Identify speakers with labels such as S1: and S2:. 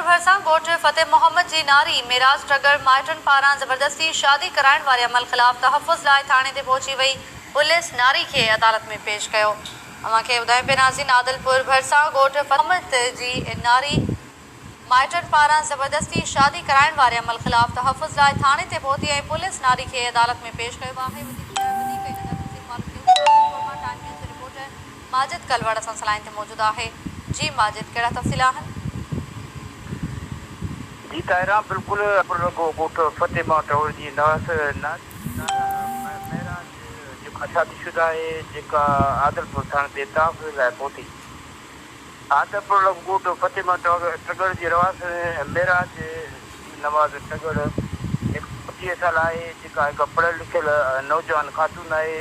S1: ڀرسان ڳوٺ فتح محمد جي ناري معراج ٽڳڙ مائٽن پاران زبردستي شادي ڪرائڻ واري عمل خلاف تحفظ لاء ٿاڻي تي پهچي وئي پوليس ناري کي عدالت ۾ پيش ڪيو اوهان کي ٻڌايون پي ناظرين عادلپور ڀرسان ڳوٺ فتح محمد جي ناري مائٽن پاران زبردستي شادي ڪرائڻ واري عمل خلاف تحفظ لاء ٿاڻي تي پهتي ۽ پوليس ناري کي عدالت ۾ پيش ڪيو آهي وڌيڪ ان لاء وڌيڪ ان لاء تفصيل معلوم ڪيو ته عادلپور مان ٽائيم نيوز جي رپورٽر ماجد ڪلوڙ اسان
S2: سان لائين تي موجود آهي. جي ماجد ڪهڙا تفصيل آهن. جي طاهران بلڪل پر رڳو ڳوٺ فتح ماء ٽهوڙ جي نه هئس نه طاهران مهراج جيڪا شادي شده آهي جيڪا عادلپور ٿاڻي بيتاب لاء پهتي عادلپور رڳو ڳوٺ فتح ماء ٽڳڙ جي رهواسي مهراج نواز ٽڳڙ هڪ پوڙهيء سال آهي جيڪا هڪ پڙهيل لکيل نوجوان خاتون آهي.